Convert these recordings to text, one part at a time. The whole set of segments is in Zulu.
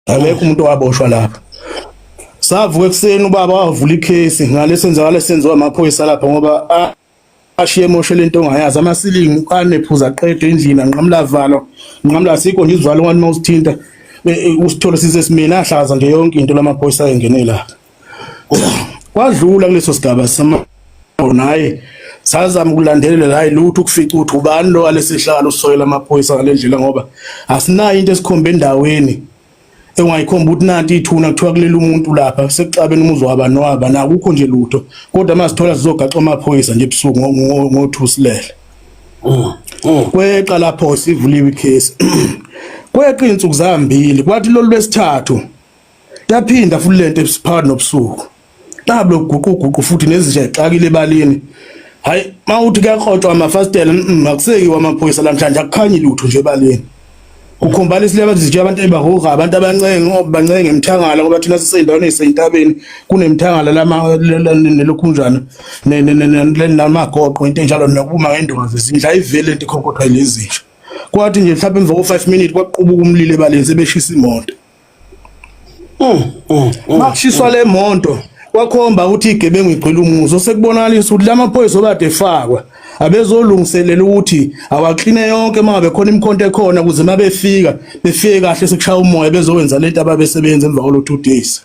akekho umuntu owaboshwa lapha savuka ekuseni ubaba wavula ikhesi ngale senzakala senziwa amaphoyisa lapha ngoba ashiye emoshe lento ongayazi amasilingi anephuza qedwe endlini anqamla valo nqamla sikho nje izivalo ngani mawusithinta e, e, usithole sisesimina ahlaza nje yonke into lamaphoyisa engenela kwadlula kuleso sigaba sama naye sazama ukulandelela hayi lutho ukufica ukuthi ubani lo alesihlalo usoyela amaphoyisa ngalendlela ngoba asinayo into esikhombe endaweni engayikhomba ukuthi nanti ithuna kuthiwa kulele umuntu lapha sekuxabene umuzi wabani waba nakukho nje lutho kodwa uma sithola sizogaxa amaphoyisa nje ebusuku ngothusilele mm, mm. kweqa lapho sivuliwe icase kweqa izinsuku zambili kwathi lolu lwesithathu Yaphinda futhi lento ebusiphakathi nobusuku. Tablo guquguqu futhi nezinja exakile ebalini. Hayi, mawuthi kuyakrotshwa amafastela, mm, akuseki wamaphoyisa lamhlanje akukhanyi lutho nje ebalini. Ukhombala isile abantu zitshela abantu ebahoga abantu abancenge ngoba bancenge emthangala ngoba thina sisendaweni esentabeni kunemthangala lama nelokhunjana namagoqo into enjalo nokuma ngendulo zindla ivele into ikhonkotha lezi nje. Kwathi nje mhlawumbe emva ko 5 minutes kwaqubuka umlilo ebaleni sebeshisa imoto. makushiswa le monto kwakhomba ukuthi igebengu igcwele umuzi osekubonakalisa ukuthi la maphoyisa obade efakwa abezolungiselela ukuthi awakline yonke uma ngabe khona imikhonto ekhona ukuze uma befika befike kahle sekushaya umoya bezowenza lento ababesebenza emva kwalo two days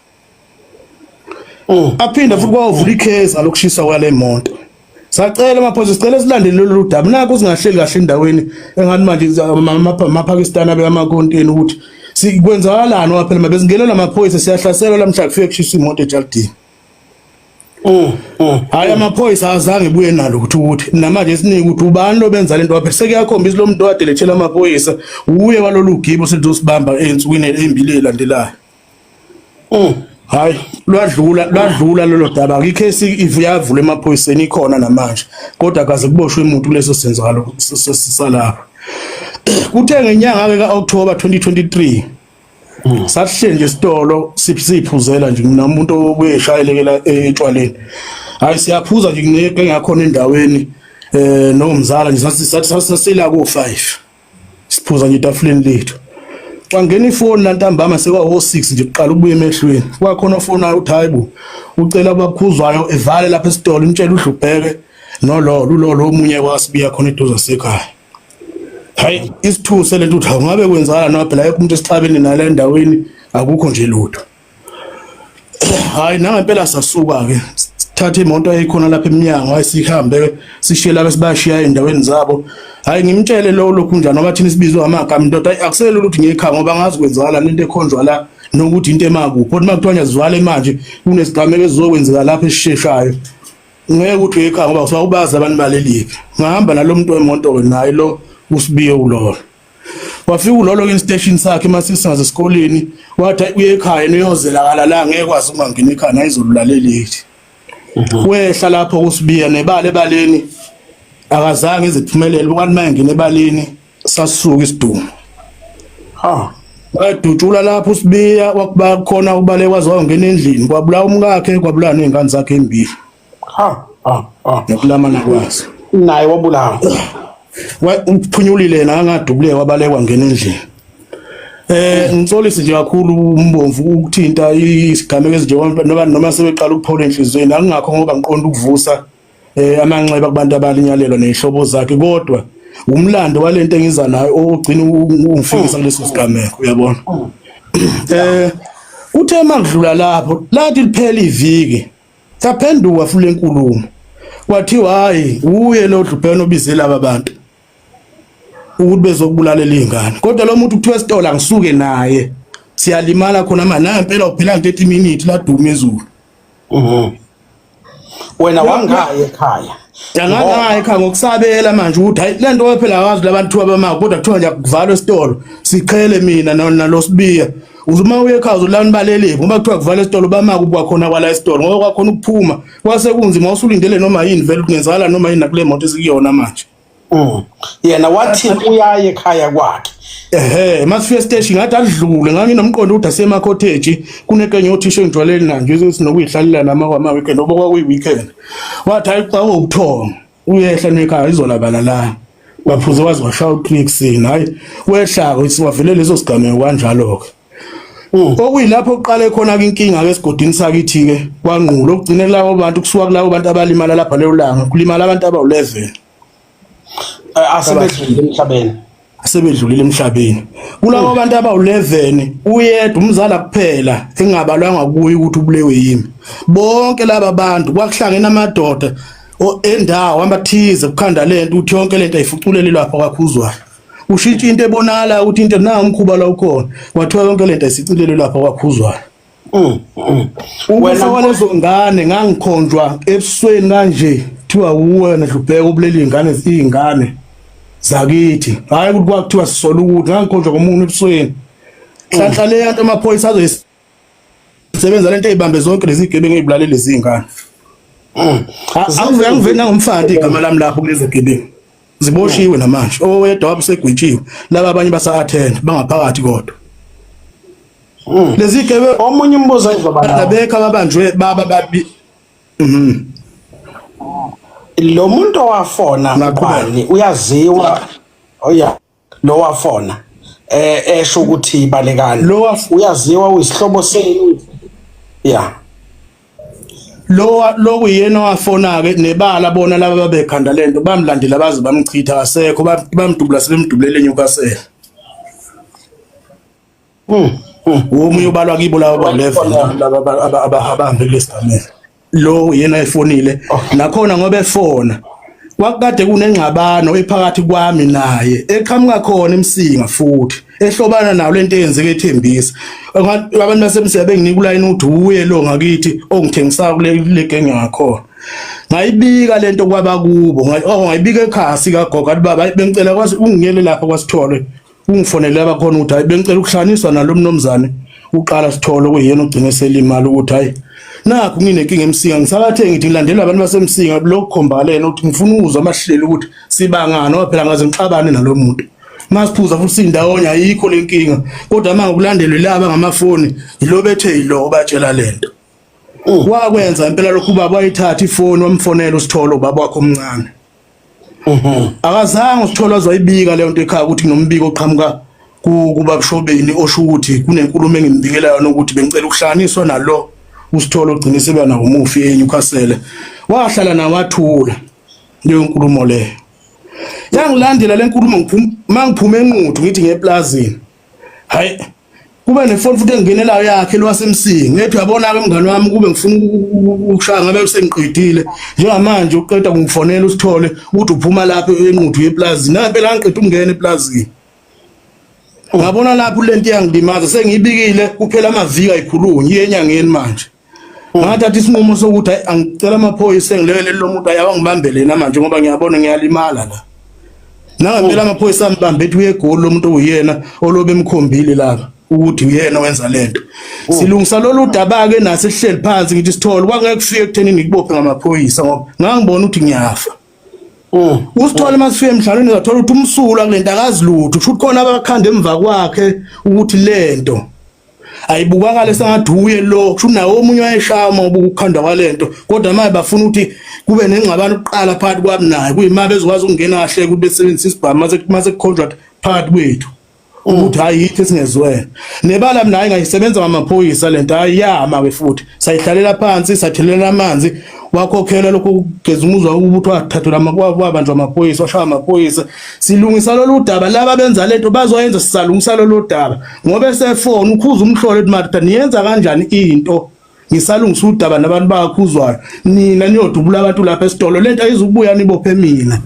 Mm. aphinde futhi kwawuvula ikheza lokushisa kwale moto sacela amaphoyisa sicela silandele lolu daba naku singahleli kahle endaweni engathi manje amapakistani abe amakonteni ukuthi sikwenzakalani wa phela mabezingena lamaphoyisa siyahlasela lamhla kufike kushisa imoto ejalidini mm, mm, hayi amaphoyisa azange ebuye nalo ukuthi ukuthi namanje esiningi ukuthi ubani lobenza lento waphe sekuyakhombisa lo muntu owadelethela amaphoyisa uye walolu gibo sithi usibamba ensukwini embili elandelayo Mm. Hayi lwadlula lwadlula lelo daba ngicase ivuyavula emaphoyiseni ikhona namanje kodwa kaze kuboshwe umuntu leso senzalo sisalapha kuthe ngenyanga ke kaOctober 2023 mm. sahle nje isitolo siphuzela nje mina umuntu obuyeshayelekela etshwaleni hayi siyaphuza nje ngeke ngakhona endaweni eh nomzala nje sathi sathi sasila ko 5 siphuza nje etafuleni lethu wangena ifoni lantambama sekwawo 6 nje kuqala ubuye emehlweni kwakhona ofonayo uthi hayibo ucela abakhuzwayo evale lapha esitolo umtshela udlubheke nololo ulolo omunye wasibiya khona eduze sekhaya hayi isithuse lento uthi awungabe kwenzala noma phela yonke umuntu esixabene nale ndaweni akukho nje lutho hayi nangempela sasuka ke thatha imoto eyikhona lapha eminyango hayi sihambe sishiye laba sibashiya endaweni zabo hayi ngimtshele lo lokhu njani ngoba thina sibizwa amagama indoda hayi akuselula ukuthi ngiyekhaya ngoba ngazi kwenzakala lento ekhonjwa la nokuthi into emakuphi kodwa makuthiwa ngiyazivale manje kunesigameko esizokwenzeka lapha esisheshayo ngeke ukuthi uyekhaya ngoba usuwakubazi abantu balelipi ngahamba nalo muntu wemoto naye lo usibiye ulolo wafika ulolo instation sakhe masisingaze esikoleni wathi uye ekhaya niyozelakala la ngeke kwazi uma ngine ekhaya nayizolulaleleli mhm. wehla lapho kusibiya nebale baleni akazange iziphumelele ukanti maye ngine baleni sasuka isidumo ha wadutshula lapho usibiya wakuba khona ubale kwazi wangena endlini kwabulawa umkakhe kwabulawa nezingane zakhe embili ha ha ha nokulamana kwaso naye wabulawa umphunyulile nangadubuleka wabalekwa ngena endlini Eh ngixolisi nje kakhulu umbomvu ukuthinta isigameko ezinje noma noma sebeqala ukuphola enhlizweni akungakho ngoba ngiqonda ukuvusa eh amanxeba kubantu abalinyalelwa nezihlobo zakhe kodwa umlando walento engiza nayo ogcina ungifikisa kuleso sigameko uyabona eh uthe makudlula lapho lathi liphela iviki Yaphenduka futhi lenkulumo. Kwathiwa hayi uye lo dlubheno obize laba bantu. Ukuthi bezokubulalela izingane. Kodwa lo muntu kuthiwa esitolo angisuke naye. Siyalimala khona manje naye impela uphela 30 minutes la duma ezulu. Mhm. Wena wangaye ekhaya. Yangangaye ekhaya ngokusabela manje ukuthi hayi lento waphela wazi labantu abama kodwa kuthiwa nje akuvalwe esitolo. Siqhele mina nalosibiya. uze uma uye ekhaya uzolala nibaleleki ngoba kuthiwa kuvala esitolo bamaka ukuba khona kwala esitolo ngoba kwakhona ukuphuma kwase kunzima usulindele noma yini vele kungenzakala noma yini nakule moto esikuyona manje Mm. yena wathi uyaye ekhaya kwakhe ehe masifika esiteshi ngathi adlule nganginomqondo ukuthi asemakhotheji kunekenye othisha engijwaleli nanje sinokuyihlalela nama kwama weekend oba kwakuyi weekend wathi hayi xa ubuthongo uyehla nekhaya izolabala la baphuze waze washaya ucnixin hayi wehlako isiwavele leso sigameko kanjalo-ke mm. okuyilapho kuqale khona-ke inkinga-ke esigodini sakithi-ke kwangqula okugcine kulabo bantu kusuka kulabo bantu abalimala lapha leyo langa kulimala abantu abawu-11 asebedlule emhlabeni asebedlulile emhlabeni kulawo abantu abawu-11 uyedwa umzala kuphela engabalwanga kuye ukuthi ubulewe yimi bonke laba bantu kwakuhlangene amadoda endawo amathize kukhanda le nto ukuthi yonke le nto ayifuculele lapho kwakhuzwayo ushintshe into ebonakala ukuthi into na umkhuba la ukhona kwathiwa yonke le nto ayisicilele lapho kwakhuzwayo Mm, mm. Wena walezo ngane ngangikhonjwa ebusweni kanje kuthiwa uwe nehlupheka ubuleli izingane izingane zakithi hayi ukuthi kwakuthiwa sisola ukuthi ngangikhonjwa komuntu ebusweni hlanhla le yanto amaphoyisa azoyisebenza lento eyibambe zonke lezi gebengu ezibulale lezi zingane mm. angiveni nangomfana igama lami lapho kulezi gebengu ziboshiwe namanje owedwa wabe segwitshiwe laba abanye basa-athena bangaphakathi kodwa hmm. lezi gebe omunye umbuzo engizobabekho ababanjwe baba babi mhm. lo muntu owafona ngubani uyaziwa oya lowafona eh esho ukuthi balekani uyaziwa uyisihlobo senu yeah lo lokuyena wafona ke nebala bona laba babekhanda lento bamlandela baze bamchitha kasekho bamdubula sebemdubulele eNewcastle Hmm. Womunye ubalwa kibo laba ba-11 laba abahambe kulesigameko. Lo yena efonile oh. nakhona ngoba efona kwakukade kunengxabano ephakathi kwami naye eqhamuka khona emsinga futhi ehlobana nawo lento eyenzeke ethembisa abantu basemsinga benginika ulayini uthi uye lo ngakithi ongithengisayo kule legenge ngakhona ngayibika lento kwabakubo oh, ngayibika ekhasi kagogo athi baba bengicela kwazi ungiyele lapha kwasithole ungifonele abakhona ukuthi hayi bengicela ukuhlanganiswa nalo mnomzane uqala sithole kuyena ogcine selimali ukuthi hayi nakho nginenkinga emsinga ngisakathe ngithi ngilandela abantu basemsinga lokho khombalena ukuthi ngifuna ukuzwa amahlelo ukuthi sibangani ngoba phela ngaze ngixabane nalo muntu masiphuza futhi sindawonye ayikho lenkinga kodwa manje ukulandelwe laba ngamafoni yilo bethe yilo batshela lento wakwenza impela lokhu baba wayithatha ifoni wamfonela usithole ubaba wakho omncane Mhm. Akazange usithole azoyibika leyo nto ekhaya ukuthi kunombiko oqhamuka ku- kubabshobeni osho ukuthi kunenkulumo engimbikela yona ukuthi bengicela ukuhlanganiswa nalo usithole ogcine seba nawo umufi eNewcastle. Wahlala naye wathula leyo nkulumo leyo. Yangilandela le nkulumo ngiphum- mangiphume enquthu ngithi ngeplazini. Hayi kube nefoni futhi engenelayo yakhe lwasemsingi ngethi uyabona-ke mngane wami kube ngifuna ukushaya ngabe sengiqedile njengamanje uqeda kungifonela usithole ukuthi uphuma lapho enquthu yeplazini nampela angiqeda ukungena eplazini ngabona lapho lento iyangilimaza sengiyibikile kuphela amaviki ayikhulunyi iyenyangeni manje ngathatha isinqumo sokuthi hayi angicela amaphoyisa engilele lo muntu ayawa ngibambele yena manje ngoba ngiyabona ngiyalimala la nangempela amaphoyisa ambambe ethi uyegoli lo muntu uyena olobe emkhombile laba ukuthi uyena wenza lento oh. silungisa lolu daba ke nase sihleli phansi ngithi sithole kwangeke kufike ekutheni ngikubophe ngamaphoyisa ngoba ngangibona ukuthi ngiyafa oh. usithole masifike emhlabeni zathola ukuthi umsula kulento akazi lutho kusho ukuthi khona abakhanda emva kwakhe ukuthi lento ayibukakale sengathi uye lo kusho nawo omunye wayeshama ubuka ukukhandwa kwalento kodwa manje bafuna ukuthi kube nengxabano kuqala phakathi kwami naye kuyima bezokwazi ukungena kahle ukuthi besebenzise isibhamu mase mase contract phakathi kwethu ukuthi hayi yithi singezwene nebala mina hayi ngayisebenza ngamaphoyisa lento hayi yama ke futhi sayihlalela phansi sathelela amanzi wakhokhela lokho kugeza umuzwa ukuthi wathathela amabanjwa amaphoyisa washaya amaphoyisa silungisa lolu daba laba benza lento bazoyenza sisalungisa lolu daba ngoba esefona ukhuza umhlolo ethi marita niyenza kanjani into ngisalungisa udaba nabantu bakhuzwayo nina niyodubula abantu lapha esitolo lento ayizukubuya nibophe mina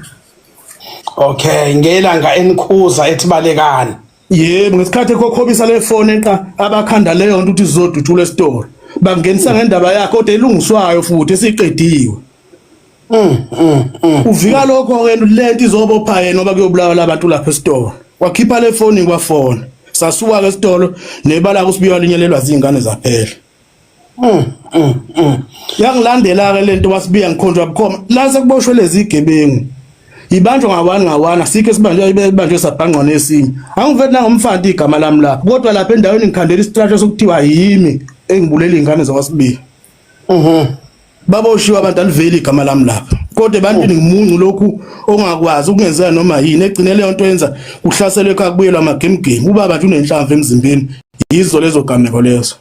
okay ngelanga enikhuza ethi balekani yebo ngesikhathi ekhokhobisa le fone eqa abakhanda leyo nto ukuthi zizodutshula esitolo bangenisa ngendaba yakhe kodwa elungiswayo futhi esiqediwe Mm, mm, mm. Uvika lokho ke lento izobopha yena ngoba kuyobulawa labantu lapha esitolo. Wakhipha le foni kwafona. Sasuka ke esitolo nebala kusibiwa linyelelwa zingane zaphela. Mm, mm, mm. Yangilandela ke lento wasibiya ngikhonjwa bukhoma. La sekuboshwe lezi igebengu. Ibanjwa ngawani ngawani asikho esibanjwa ibanjwe sabhangqwa nesinye. Angivethi nangomfana igama lami lapha. Kodwa lapha endaweni ngikhandela istrategy sokuthiwa yimi engibulele ingane zakwasibiya. Mhm. baboshiwe abantu aliveli igama lami lapha kodwa ebantwini ngimuncu lokhu ongakwazi ukungenzeka noma yini egcine leyo nto yenza kuhlaselwe ekhaya kubuyelwa amagemgemi ubaba nje unenhlamvu emzimbeni yizo lezo gameko lezo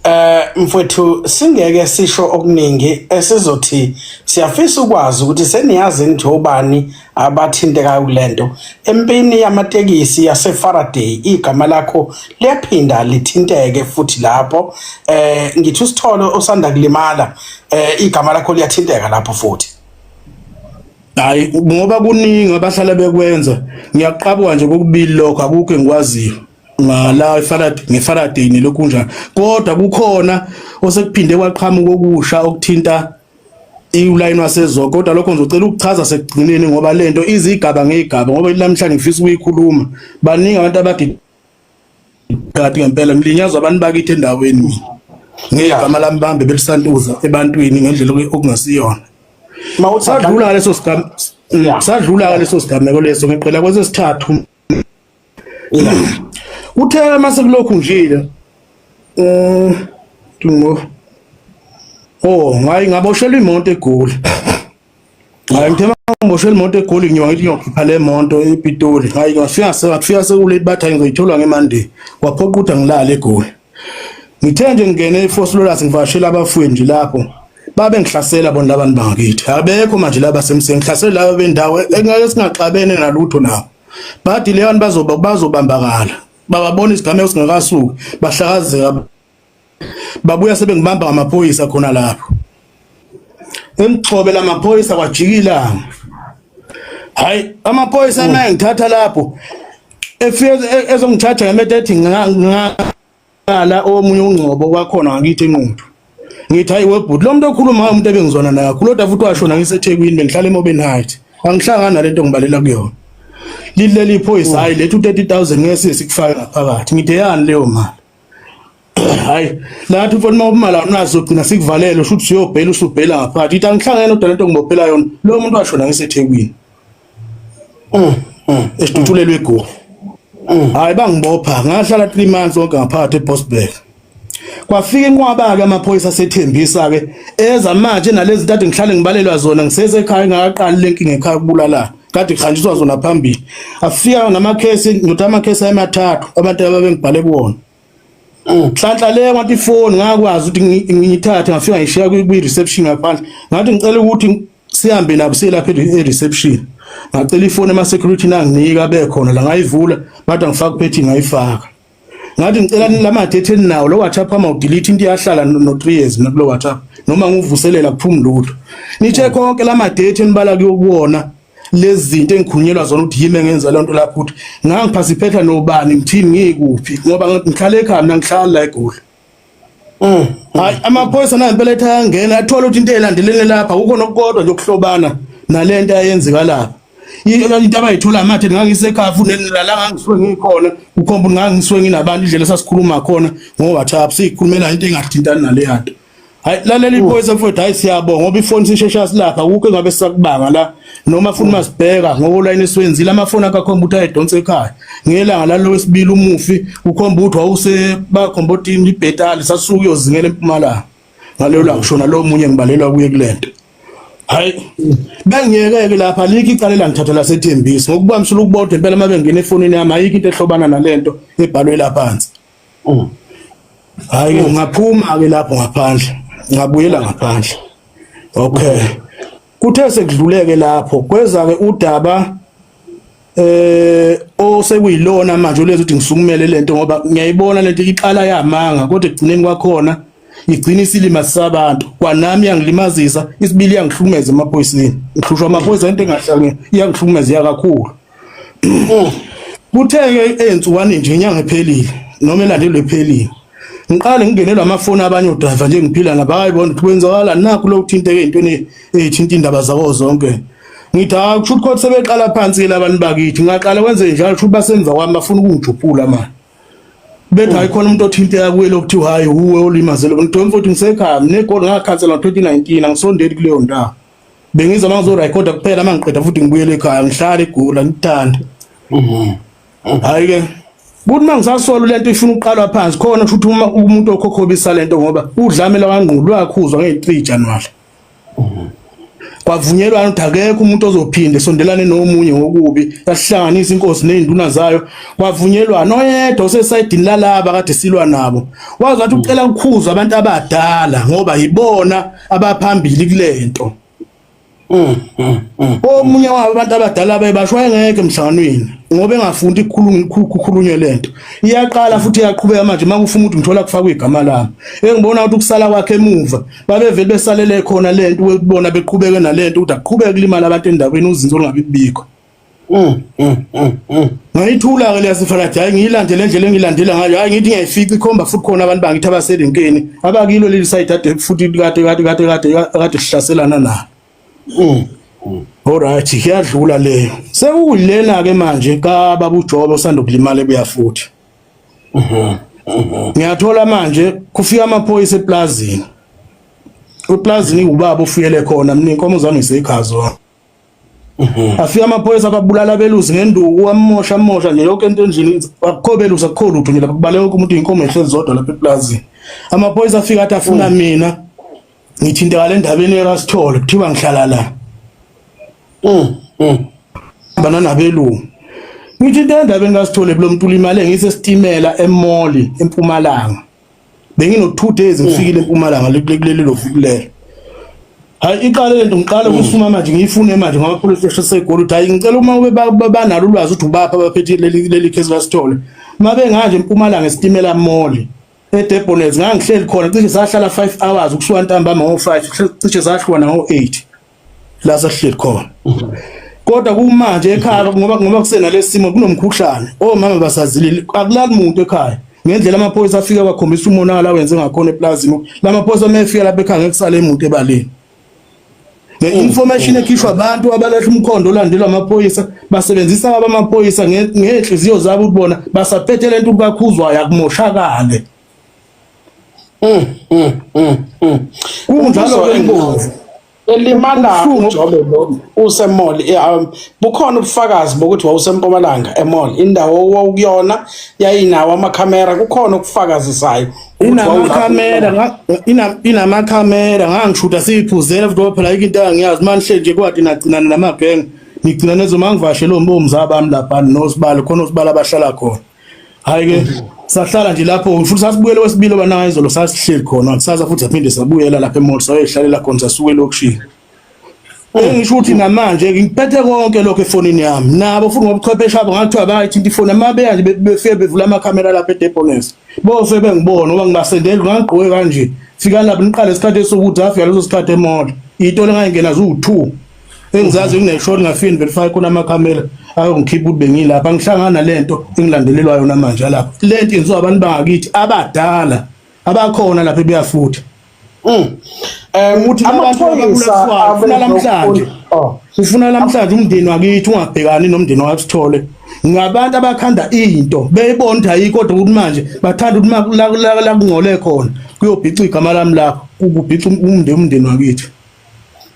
Eh mfowethu singeke sisho okuningi esizothi siyafisa ukwazi ukuthi seniyazi nje ubani abathintekayo kule nto empini yamatekisi yasefaraday igama lakho liyaphinda lithinteke futhi lapho eh ngithi usitholo osanda kulimala eh igama lakho liyathinteka lapho futhi hayi ngoba kuningi abahlala bekwenza ngiyaqabwa nje kokubili lokho akukho engikwaziyo ngala iFaraday ngeFaraday nelokhu kunjani kodwa kukhona osekuphinde kwaqhamuka okusha okuthinta iwulayini wasezwa kodwa lokho ngizocela ukuchaza sekugcineni ngoba lento izigaba ngegaba ngoba namhlanje ngifisa ukuyikhuluma baningi abantu abagidi kade ngempela ngilinyazwa abantu bakithi endaweni mina ngegama lami bambe belisantuza ebantwini ngendlela okungasiyona mawusadlula ngaleso sigameko sadlula ngaleso sigameko leso ngiqela kwesesithathu Uthe uma sekulokhu njile um ngo Oh, ngayi ngaboshelwa imoto egoli. Hayi ngithe ngiboshelwa imoto egoli ngiwa ngithi ngiyokhipha le moto ePitoli. Hayi ngafika ngafika sekulate bathi ngizoyithola ngeMonday. Waphoqa ukuthi angilale egoli. ngithe nje ngingene eFoslolus ngivashela abafwethu lapho babe ngihlasela bona labantu bangakithi abekho manje laba semseni ngihlasela laba bendawo engeke singaxabene nalutho nabo bathi leyo bantu bazoba bazobambakala bababona isigameko singakasuki bahlakazeka babuya sebengibamba ngamaphoyisa khona lapho Emgxobela amaphoyisa kwajikila. Hayi amaphoyisa naye mm. ngithatha lapho. Efike e, ezongithatha ngemethe ethi ngala omunye ungcobo kwakhona ngakithi enquthu. Ngithi hayi webhuti lo muntu okhuluma umuntu ebengizwana naye kakhulu kodwa futhi washona ngiseThekwini bengihlala eMobeni Heights. Angihlangana nalento ngibalela kuyona. Lileli phoyisa mm. hayi lethu 30000 ngeke sikufake ngaphakathi. Ngide yani leyo mali? hayi lathi mfana uma ubumala awunazo ugcina sikuvalele usho ukuthi siyobhela usubhela ngaphakathi ithi angihlangene udala into ngibophela yona lo muntu washona ngisethekwini mm, mm. esitutulelwe egofu mm. hayi bangibopha ngahlala 3 months wonke ngaphakathi ebosberg kwafika inqwaba ke amaphoyisa sethembisa ke eza manje nalezi ntathu ngihlale ngibalelwa zona ngisesekhaya ngakaqali lenkinga ekhaya kubulalana kade kuhanjiswa zona phambili afika namakhesi ngithi amakhesi amathathu abantu ababengibhale kuwona nhlanhla mm. le ngathi ifoni ngakwazi ukuthi ngiyithathe ngafika ngishiya kwi-reception ngaphandle ngathi ngicela ukuthi sihambe nabo selapha e-reception ngacela ifoni ema-security nanginika bekhona la ngayivula bathi angifaka uphethi ngayifaka ngathi ngicela nilamathe etheni nawo lo WhatsApp ama udelete into iyahlala no 3 years mina kulo WhatsApp noma nguvuselela kuphuma lutho nithe konke lama date enibala kuyokuwona lezi zinto engikhunyelwa zona ukuthi yimi engenza le nto lapho ukuthi ngangiphasiphetha nobani ngithini ngikuphi ngoba ngihlale ekhaya mina ngihlala la egoli Mm. Hayi amaphoyisa nayo impela ethi ayangena athola ukuthi into elandelene lapha kukho nokukodwa nje ukuhlobana nalento ayenzeka lapha. Into abayithola mathe ngangisekhafu nelala ngangiswe ngikhona ukhomba ngangiswe nginabantu indlela sasikhuluma khona ngo WhatsApp sikhulumela into engathintani naleyanto. Hayi lalela iphoyisa mfowethu hayi siyabonga ngoba ifoni sishesha silapha akukho engabe sakubanga la noma funa masibheka ngokulayini siwenzile amafoni akakhomba ukuthi ayedonsa ekhaya ngelanga lalo wesibili umufi ukhomba ukuthi wawuse bakhomba ukuthi ibhetali sasuke uyozingela empumalanga ngaleyo la kushona lo munye ngibalelwa kuye kulento hayi bengiyekeke lapha likho icala elangithatha lasethembisi ngokubambisela ukubodwa impela uma bengena efonini yami ayikho into ehlobana nalento ebhalwe laphansi Mm. Hayi oh, ngaphuma ke lapho ngaphandle. Ngabuyela ngaphandle. Okay. Kuthe sekudluleke lapho kweza ke udaba eh osekuyilona manje ulenza ukuthi ngisukumele lento ngoba ngiyayibona lento iqala yamanga kodwa ekugcineni kwakhona igcina isilima sabantu kwanami yangilimazisa isibili yangihlukumeza emaphoyiseni ngihlushwa amaphoyisa into engahlangene iyangihlukumeza yakakhulu Mm. Kutheke ensukwani nje inyanga ephelile noma elandelwe ephelile. Ngiqale ngingenelwa amafoni abanye odriver nje ngiphila nabo hayi bona ukuthi kwenzakala nakho lo kuthinteke intweni ethinta indaba zawo zonke. Ngithi hayi kusho ukuthi sebeqala phansi labantu bakithi ngaqala kwenze njalo kusho basemva kwami bafuna ukungijuphula manje. Bethi hayi khona umuntu othinteka kuye lokuthiwa hayi uwe olimaze lo mntu mfowethu ngisekhaya nginegoli ngakhansela ngo-2019 angisondeli kuleyo ndawo. bengiza uma ngizorekhoda kuphela uma ngiqeda futhi ngibuyele ekhaya ngihlale igula ngithande mhm. hayi ke buthi uma ngisasola lento ifuna ukuqalwa phansi khona kusho ukuthi uma umuntu okhokhobisa lento ngoba udlamela wangqulu wakhuzwa nge-3 January mhm. kwavunyelwana ukuthi akekho umuntu ozophinde sondelane nomunye ngokubi yasihlanganisa inkosi nezinduna zayo kwavunyelwana oyedwa osesayidini lalaba kade silwa nabo wazi wathi ucela ukukhuza abantu abadala ngoba yibona abaphambili kulento mm, mm, mm. omunye wabo abantu abadala bebasho wayengeke emhlanganweni ngoba engafundi kukhulunywe lento iyaqala futhi iyaqhubeka manje uma kufuna ukuthi ngithola kufakwa igama lami engibona ukuthi ukusala kwakhe emuva babevele besalele khona lento ukubona beqhubeke nalento ukuthi aqhubeke kulimala abantu endaweni uzinzo olungabi kubikho Mm, mm, mm, mm. ngayithula-ke leya sifalathi hhayi ngiyilandele endlela engilandela ngayo hhayi ngithi ngiyayifica ikhomba futhi khona abantu bangithi abaserenkeni abakilo leli sayidi ade futhi kade kade kade kade kade sihlaselana nalo mm, mm. olright kuyadlula leyo sekuyilena-ke manje kababa ujobe osanda ukulimala ebuya futhi mm-hmm, mm-hmm. ngiyathola manje kufika amaphoyisa eplazini eplazini iwubaba ofuyele khona mina inkomo zami ngiseyikhazo Mhm. afika amaphoyisa ababulala abelusi ngenduku amosha amosha nje yonke into endlini akukho belusi akukho lutho nje lapha kubaleka wonke umuntu inkomo ehlezi zodwa lapha eplazini amaphoyisa afika athi afuna mm. mina ngithinteka le ndabeni erasithole kuthiwa ngihlala la mm, mm. bana nabelungu ngithinte endabeni kasithole kulo mntu ulimale ngisesitimela emoli empumalanga bengino 2 days ngifikile eMpumalanga kuleli lo fukulelo hayi iqale lento ngiqale mm. ukusuma manje ngiyifune manje ngoba police station segoli uthi hayi ngicela uma ube banalo ulwazi ukuthi ubapha abaphethe leli leli case basithole uma benganje eMpumalanga esitimela mole eDebonets ngangihleli khona cishe sahlala 5 hours ukusuka ntambama ngo 5 cishe sahlwana ngo 8 la sasihleli khona kodwa kumanje ekhaya ngoba ngoba kusena lesimo kunomkhuhlane omama basazilile akulali muntu ekhaya ngendlela amaphoyisa afika bakhombisa umonakala wenze ngakhona eplazini lamaphoyisa mefika lapha ekhaya ngekusale imuntu ebaleni The mm. information ekhishwa abantu abalahla umkhondo olandelwa amaphoyisa basebenzisa abamaphoyisa ngenhliziyo zabo ukubona basaphethe lento kakhuzwayo akumoshakale Mm, mm, mm, mm. Kunjalo ke ingozi. Elimala uJobe lo usemall eh, um, bukhona ubufakazi bokuthi wawusempumalanga emall indawo owawukuyona yayinawo amakhamera kukhona ukufakazisayo inamakhamera inamakhamera ngangishuta siyiphuzela futhi ngoba phela into angiyazi manje nje kwathi nagcinana namabhenge ngigcina nezomangivashe lo mbomza bami lapha nosibalo khona osibala abahlala khona hayi ke sahlala nje lapho futhi sasibuyele wesibili obanayo izolo sasihleli khona kusasa futhi aphinde sabuyela lapha emall sayoyihlalela khona sasuke elokishini engisho ukuthi namanje ngiphethe konke lokho efonini yami nabo futhi ngobuchwepheshe abo ngathiwa bayithinta ifoni amabeya nje befike bevula amakhamera lapha edeponesi bose bengibona ngoba ngibasendeli ngangigqoke kanje fika lapho niqale isikhathi esokuthi afika leso sikhathi emola iyitolo engayingena ziwu-two engizazi kuneshoni ngafini verify khona amakhamera ayongikhipha ukuthi bengilapha ngihlangana lento engilandelelwa yona manje lapha lento yenziwa abantu bangakithi abadala abakhona lapha ebuyafutha mm. um ukuthi amaphoyisafuna lamhlanje oh. ufuna lamhlanje umndeni wakithi ungabhekani nomndeni wakho sithole ngabantu abakhanda into beyibona ukuthi ayikho kodwa ukuthi manje bathanda ukuthi la kungcole khona kuyobhica igama lami lapho kubhica umndeni umndeni wakithi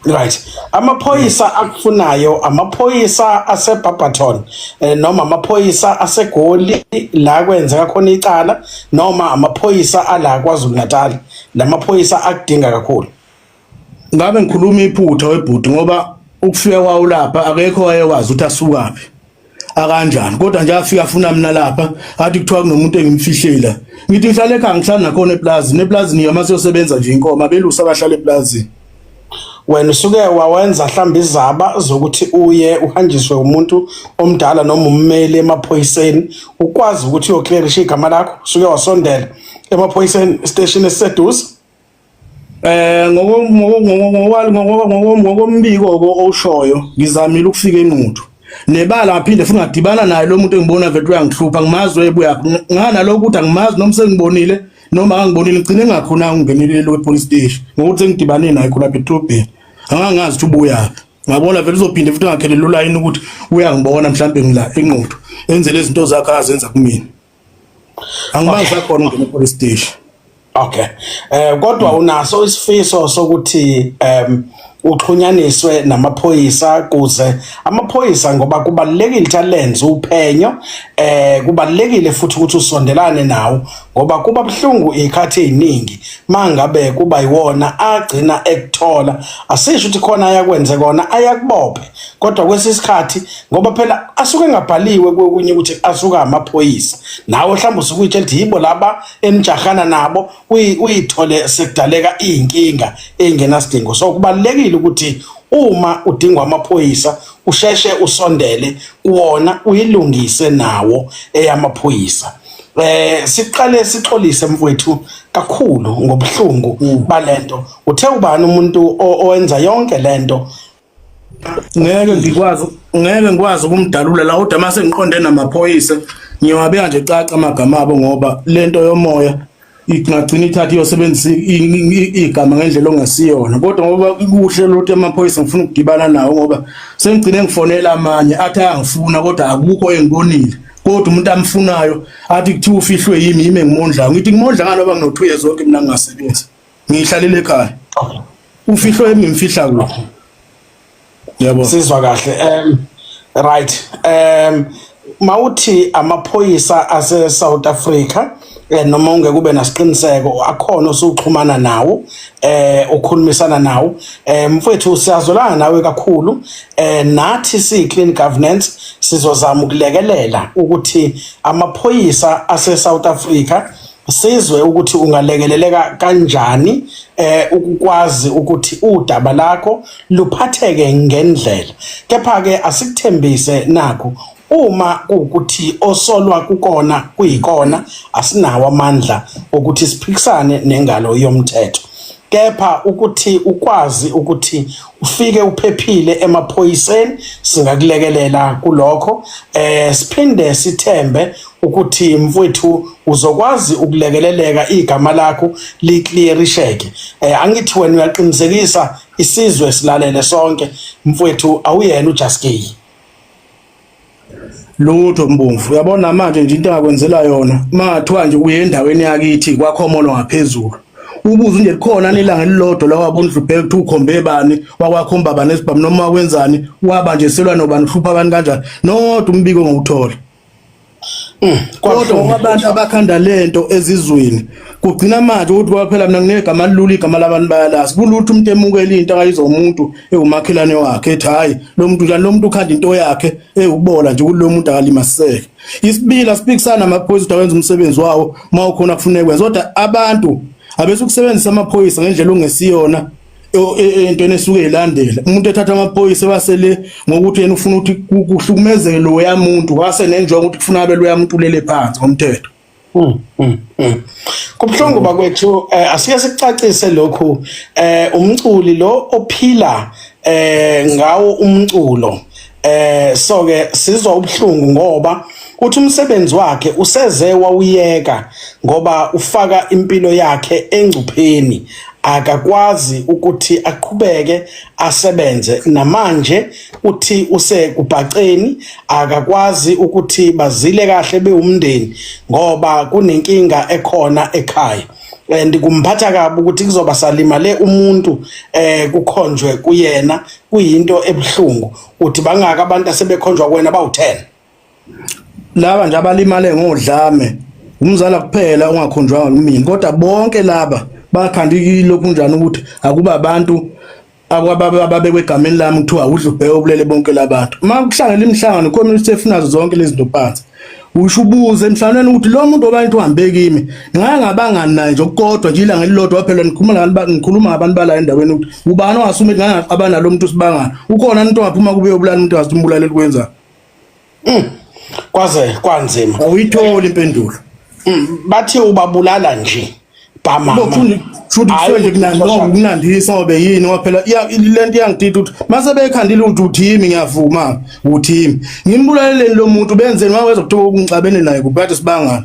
Right. Amaphoyisa akufunayo amaphoyisa aseBarberton eh, noma amaphoyisa aseGoli la kwenzeka khona icala noma amaphoyisa ala kwaZulu Natal. Lamaphoyisa akudinga kakhulu. Ngabe ngikhuluma iphutha webhuti ngoba ukufika kwawo lapha akekho wayekwazi ukuthi asukaphi. akanjani kodwa nje afika afuna mina lapha athi kuthiwa kunomuntu engimfihlela ngithi ngihlale ekhaya ngihlala nakhona eplazini eplazini yama siyosebenza nje inkoma belusa abahlala eplazini wena usuke wawenza mhlawumbe izaba zokuthi uye uhanjiswe umuntu omdala noma ummeli emaphoyiseni ukwazi ukuthi uyoclearisha igama lakho usuke wasondela emaphoyiseni station esiseduze Eh ngokombiko owushoyo ngizamile ukufika enquthu nebala ngaphinde futhi ngadibana naye lo muntu engibona vele uyangihlupha ngimazi ebuya ngana lokho ukuthi angimazi noma sengibonile noma angibonile ngicine ngakhona ngingenile lo police station ngokuthi ngidibane naye khona betrobheni angangazi ukuthi ubuya ngabona vele uzophinde futhi ngakhelele ulayini ukuthi uyangibona mhlawumbe ngila enquthu enzele izinto zakhe azenza kumina angimazi akhona ungena police station okay eh kodwa unaso isifiso sokuthi em uxhunyaniswe namaphoyisa kuze amaphoyisa ngoba kubalekile talents uphenyo eh kubalekile futhi ukuthi usondelane nawo ngoba kuba buhlungu ikhathi eziningi mangabe kuba yiwona agcina ekuthola asisho ukuthi khona ayakwenze kona ayakubophe kodwa kwesisikhathi ngoba phela asuke engabhaliwe kokunye ukuthi asuka amaphoyisa nawe mhlawumbe usukuyitshe lithi yibo laba enijahana nabo uyithole sekudaleka iyinkinga engenasidingo so kubalekile ukuthi uma udingwa amaphoyisa usheshe usondele kuwona uyilungise nawo eyamaphoyisa eh siqale sixolise mfowethu kakhulu ngobuhlungu mm. balento uthe ubani umuntu owenza yonke lento ngeke ngikwazi ngeke ngikwazi ukumdalula la kodwa mase ngiqonde namaphoyisa ngiyowabeka nje caca amagama abo ngoba lento yomoya ingagcina ithatha iyosebenzisa igama ngendlela ongasiyona kodwa ngoba kuhle lothi amaphoyisa ngifuna ukudibana nawo ngoba sengigcine ngifonela amanye athi ayangifuna kodwa akukho engibonile kodwa umuntu amfunayo athi kuthiwa ufihlwe yimi yimi engimondlayo ngithi ngimondla ngani oba ngino-two years oke mina ngingasebenzi ngiyihlalile ekhaya ufihlo yami ngimfihla kude yebo sizwa kahle um right um mawuthi amaphoyisa ase South Africa eh, noma ungeke ube nasiqiniseko akhona osuxhumana nawo eh ukhulumisana nawo eh mfowethu siyazolana nawe kakhulu eh nathi si clean governance sizozama ukulekelela ukuthi amaphoyisa ase South Africa sizwe ukuthi ungalekeleleka kanjani eh ukukwazi ukuthi udaba lakho luphatheke ngendlela kepha ke asikuthembise nakho uma ukuthi osolwa kukona kuyikona asinawo amandla ukuthi siphikisane nengalo yomthetho kepha ukuthi ukwazi ukuthi ufike uphephile emaphoyiseni singakulekelela kulokho eh siphinde sithembe ukuthi mfowethu uzokwazi ukulekeleleka igama lakho liclearisheke eh angithi wena uyaqinisekisa isizwe silalele sonke mfowethu awuyena uJaskey lutho mbomvu uyabona manje nje into engakwenzela yona mathiwa nje uye endaweni yakithi kwakhomolo ngaphezulu ubuze nje likhona nelanga elilodwa lawabundlu bheke ukuthi ukhombe bani wakwakho umbaba nesibhamu noma wenzani waba nje selwa nobani uhlupha abantu kanjani nodwa umbiko ngowuthola Mm, kodwa abantu abakhanda lento ezizweni kugcina manje ukuthi kwaphela mina nginegama lilula igama labantu bayalazi kulutho umuntu emukela into akayizo umuntu ewumakhelane wakhe ethi hayi lo muntu njani lo muntu ukhanda into yakhe ewubola nje kulo muntu akalimaseke isibila sipikisana amaphoyisa ukuthi awenza umsebenzi wawo uma ukhona kufuneka kwenza kodwa abantu abesukusebenzisa amaphoyisa ngendlela ongesiyona entweni esuke ilandela umuntu ethatha amaphoyisa wasele ngokuthi yena ufuna ukuthi kuhlukumezeke lo yamuntu wase nenjongo ukuthi kufuna abe lo yamuntu lele phansi ngomthetho hmm, hmm, hmm. kubuhlungu bakwethu eh, asike sicacise lokhu eh, umculi lo ophila eh, ngawo umculo eh so ke sizwa ubuhlungu ngoba uthi umsebenzi wakhe useze wawuyeka ngoba ufaka impilo yakhe engcupheni akakwazi ukuthi aqhubeke asebenze namanje uthi usekubhaceni akakwazi ukuthi bazile kahle bewumndeni ngoba kunenkinga ekhona ekhaya and kumphatha kabi ukuthi kuzoba salimale umuntu eh kukhonjwe kuyena kuyinto ebuhlungu uthi bangaka abantu asebekhonjwa kuwena bawu-10 laba nje abalimale ngodlame umzala kuphela ongakhonjwanga kumina kodwa bonke laba bakhanda ilokhu njani ukuthi akuba abantu ababekwe egameni lami kuthiwa udla ubheke obulele bonke labantu uma kuhlangela imihlangano khona ukuthi efunazo zonke lezi nto phansi Usho ubuze emhlanganweni ukuthi lo muntu obantu uhambe kimi ngake ngabangani naye nje okukodwa nje ilanga elilodwa phela ngikhuluma ngabantu ngikhuluma ngabantu bala endaweni ukuthi ubani ongasume ngake ngaqaba nalo muntu sibangana ukhona umuntu ongaphuma kube yobulala umuntu wathi umbulale likwenza mm. kwaze kwanzima awuyitholi impendulo mm. bathi ubabulala nje kunandisa ngobe yini ngoba phela le nto iyangidida ukuthi mase bekhandile ukuthi uthimi ngiyavuma uthimi ngimbulaleleni lo muntu benzeni waweza kuthiwa ukungixabene naye kubekade sibangana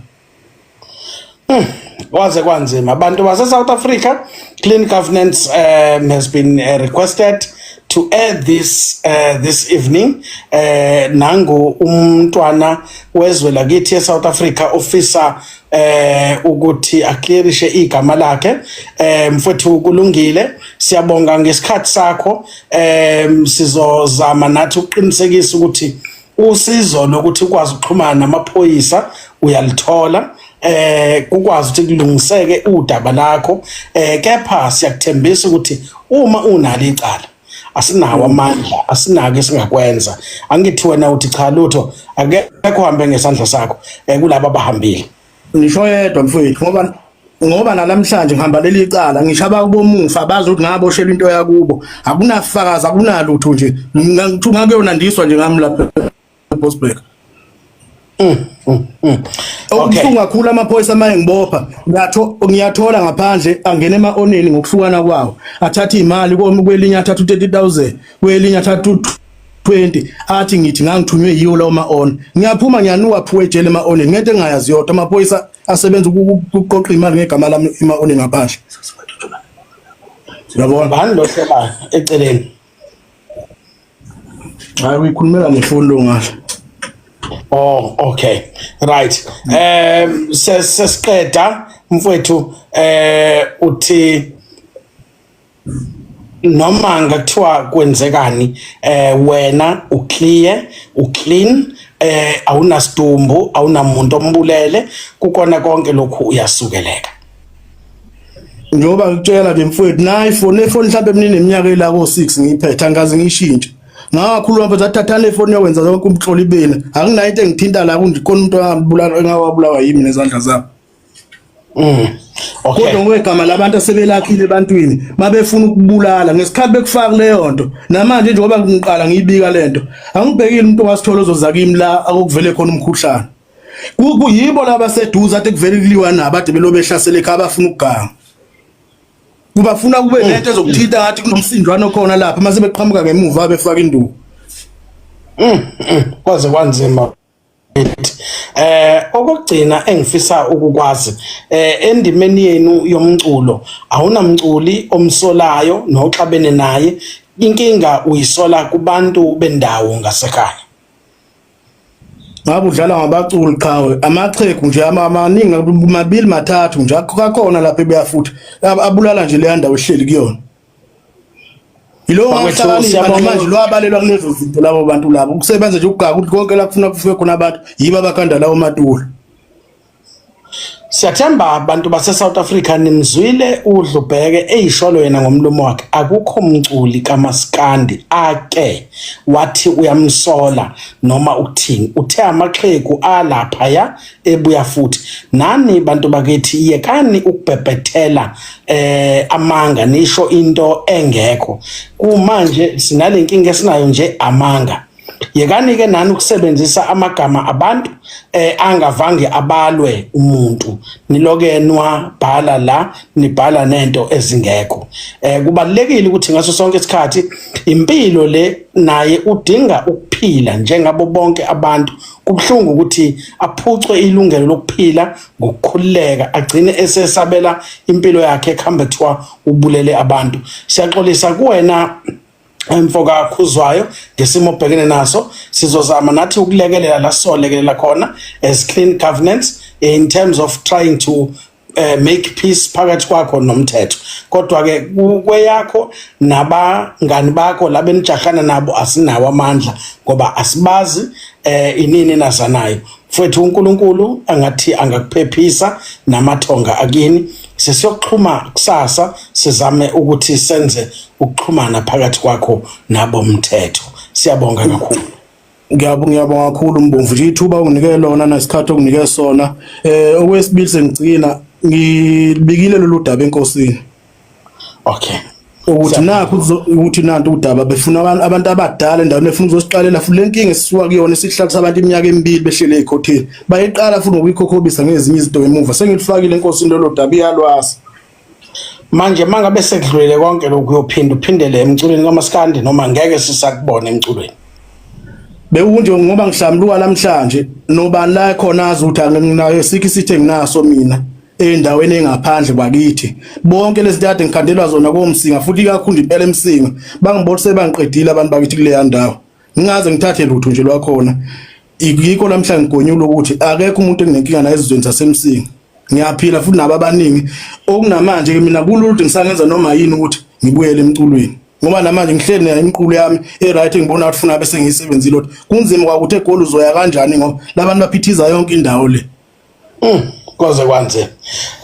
hmm, waze kwanzima abantu base-south africa clean governance um, has been uh, requested to air this uh, this evening eh nangu umntwana wezwe lakithi eSouth Africa ofisa eh ukuthi aclearishe igama lakhe eh mfowethu kulungile siyabonga ngesikhathi sakho eh sizozama nathi ukuqinisekisa ukuthi usizo lokuthi ukwazi ukuxhumana namaphoyisa uyalithola eh ukwazi ukuthi kulungiseke udaba lakho eh kepha siyakuthembisa ukuthi uma unalo icala asinawo amandla asinako esingakwenza angithi wena uthi cha lutho akekho hambe ngesandla sakho eh, kulabo abahambile ngisho yedwa mfowethu ngoba ngoba nalamhlanje ngihamba leli cala ngisho abakubomufa bazi ukuthi ngaboshelwa into yakubo akunafakazi akunalutho nje ngithuka kuyona ndiswa nje ngami lapha Bosberg mm, mm, mm. okubuhlungu kakhulu amaphoyisa amaye ngibopha ngiyathola ngaphandle angene ema-oneni ngokuhlukana kwawo athathe iy'mali kwelinye athathe u-thirty thousand kwelinye athathe u-twenty athi ngithi ngangithunywe yiwo lawo ma-on ngiyaphuma ngiyanuka phuwe ejele ema-oneni ngento engingayazi yodwa amaphoyisa asebenza ukuqoqa iy'mali ngegama lami ema-oneni ngaphandle yabona bani lo sebayo eceleni Hayi uyikhulumela ngefoni lo ngasho. Oh okay. Right. Eh sesiqeda mfowethu eh uthi noma ngathiwa kwenzekani eh wena u clear u clean eh awunasidumbu awunamuntu ombulele kukona konke lokhu uyasukeleka njengoba ngikutshela ke mfowethu nayi fone efoni mhlawumbe mina neminyaka ela ko-6 ngiyiphethe angikaze ngiyishintshe ngakhuluma mfethu athathana efoni yokwenza zonke umhloli bena anginayo into engithinta la kundikhona umuntu angabulawa engawabulawa yimi nezandla zabo mm. Okay. Kodwa ngokwegama labantu asebelakhile ebantwini babefuna ukubulala ngesikhathi bekufaka leyo nto namanje njengoba ngiqala ngiyibika lento angibhekile umuntu wasithola ozozakimi la akuvele khona umkhuhlane kuyibo laba seduze athi kuvele kuliwa nabo ade belobe ehlasele ekhaya bafuna ukuganga kubafuna kube mm. nento ezokuthinta ngathi kunomsindwana okhona lapha mase beqhamuka ngemuva befaka induku mm, mm. kwaze kwanzima eh okugcina engifisa ukukwazi eh endimeni yenu yomculo awunamculi omsolayo noxabene naye inkinga uyisola kubantu bendawo ngasekhaya ngabe udlala ngabaculi qhawe amachegu nje amaningi mabili mathathu nje akakhona lapha ebuya futhi abulala nje leya ndawo ehleli kuyona yilowo ngahlakanipha namanje lwabalelwa kulezo zinto labo bantu labo ukusebenza nje ukugaka ukuthi konke la kufuna kufike khona abantu yibo abakhanda lawo matula Siyathemba abantu base South Africa nimzwile udlubheke eyisholo yena ngomlomo wakhe akukho mculi kamaskandi ake wathi uyamsola noma ukuthini uthe amaxhegu alapha ya ebuya futhi nani bantu bakithi yekani ukubhebhethela eh amanga nisho into engekho kumanje sinalenkinga esinayo nje amanga yekanike nani ukusebenzisa amagama abantu eh angavange abalwe umuntu nilokenwa bhala la nibhala nento ezingekho eh kubalekile ukuthi ngaso sonke isikhathi impilo le naye udinga ukuphila njengabo bonke abantu kubhlungu ukuthi aphucwe ilungelo lokuphila ngokukhululeka agcine esesabela impilo yakhe ekhamba kuthiwa ubulele abantu siyaxolisa kuwena mfoka khuzwayo ngesimo obhekene naso sizozama nathi ukulekelela la solekelela khona as clean governance in terms of trying to uh, make peace phakathi kwakho nomthetho kodwa ke kweyakho nabangani bakho labenijahana nabo asinawo amandla ngoba asibazi eh inini nazanayo Mfowethu uNkulunkulu angathi angakuphephisa namathonga akini. Sesiyoxhuma kusasa sizame ukuthi senze ukuxhumana phakathi kwakho nabo mthetho. Siyabonga kakhulu. Ngiyabonga ngiyabonga kakhulu Mbomvu nje ithuba unginike lona nesikhathi onginike sona. Eh okwesibili sengigcina ngibikile lolu daba enkosini. okay ukuthi nakho ukuthi nanto udaba befuna abantu abantu abadala endaweni befuna uzosiqalela futhi lenkinga esisuka kuyona isihlalo sabantu iminyaka emibili behlele ekhotheni bayiqala futhi ngokuyikhokhobisa ngezinye izinto emuva sengilifakile inkosi into lodaba iyalwazi manje mangabe sekudlulele konke lokhu uyophinda uphindele emculweni kamaskandi noma ngeke sisakubona emculweni bewunje ngoba ngihlambuluka namhlanje nobani la khona azi ukuthi anginayo sikho isithe nginaso mina endaweni engaphandle kwakithi bonke lezi ntade ngikhandelwa zona komsinga futhi ikakhulu impela emsinga bangibolise bangiqedile abantu bakithi kuleya ndawo ngingaze ngithathe lutho nje lwakhona yikho namhlanje ngigonyula ukuthi akekho umuntu enginenkinga naye ezizweni zasemsinga ngiyaphila futhi nabo abaningi okunamanje ke mina kululde ngisangenza noma yini ukuthi ngibuyele emculweni ngoba namanje ngihleli nayo imiqulu yami e-right ngibona ukuthi funa bese ngiyisebenzile ukuthi kunzima kwakuthi egoli uzoya kanjani ngoba labantu baphithiza yonke indawo le Mm, koze kwanze.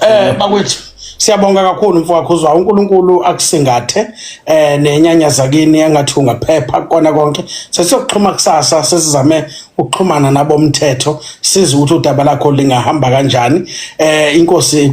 Eh bakwethu siyabonga kakhulu mfowakho uzwa uNkulunkulu akusingathe eh nenyanya zakini engathi ungaphepha kona konke sesiyokuxhuma kusasa sesizame ukuxhumana nabomthetho size ukuthi udaba lakho lingahamba kanjani eh inkosi